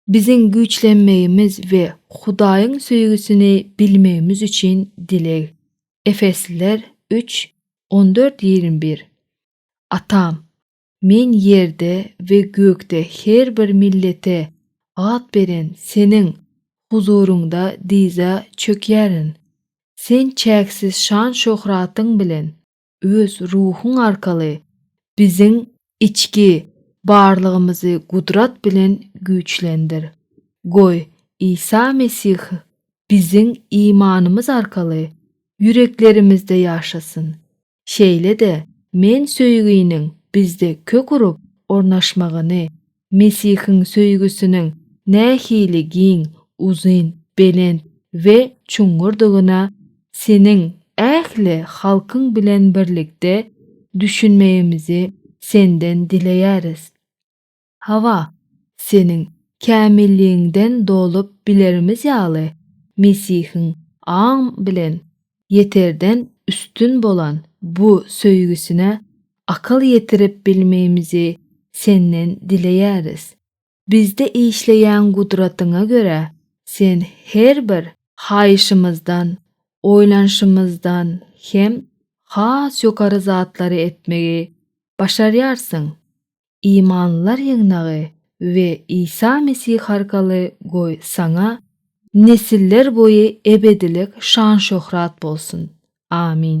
Biziň güýçlenmegimiz we Hudaýyň söýgüsini bilmegimiz üçin dileg. Efesliler üç, on dört, ýigrimi bir. Atam, men ýerde we gökde her bir millete at beren Seniň huzuryňda dyza çökýärin. Sen çäksiz şan-şöhratyň bilen. öz ruhuň arkaly biziň içki barlygymyzy gudrat bilen güýçlendir. Goý, Isa Mesih biziň imanymyz arkaly ýüreklerimizde ýaşasyn. Şeýle-de men söýginiň bizde kök urup ornaşmagyny Mesihiň söýgüsiniň nähili giň, uzyn, belent we çuňňurdygyna seniň ähli halkyň bilen birlikde düşünmegimizi senden dileýäris. Hawa, seniň kämilligiňden dolup bilerimiz ýaly, Mesihiň aň bilen ýeterden üstün bolan bu söýgüsine akyl ýetirip bilmegimizi Senden dileýäris. Bizde işleýän gudratyňa görä, Sen her bir haýyşymyzdan, oýlanyşymyzdan hem has ýokary zatlary etmegi başarýarsyň. imanlylar ýygnagy we Isa Mesih arkaly goý Saňa nesiller boýy ebedilik şan-şöhrat bolsun. Amin.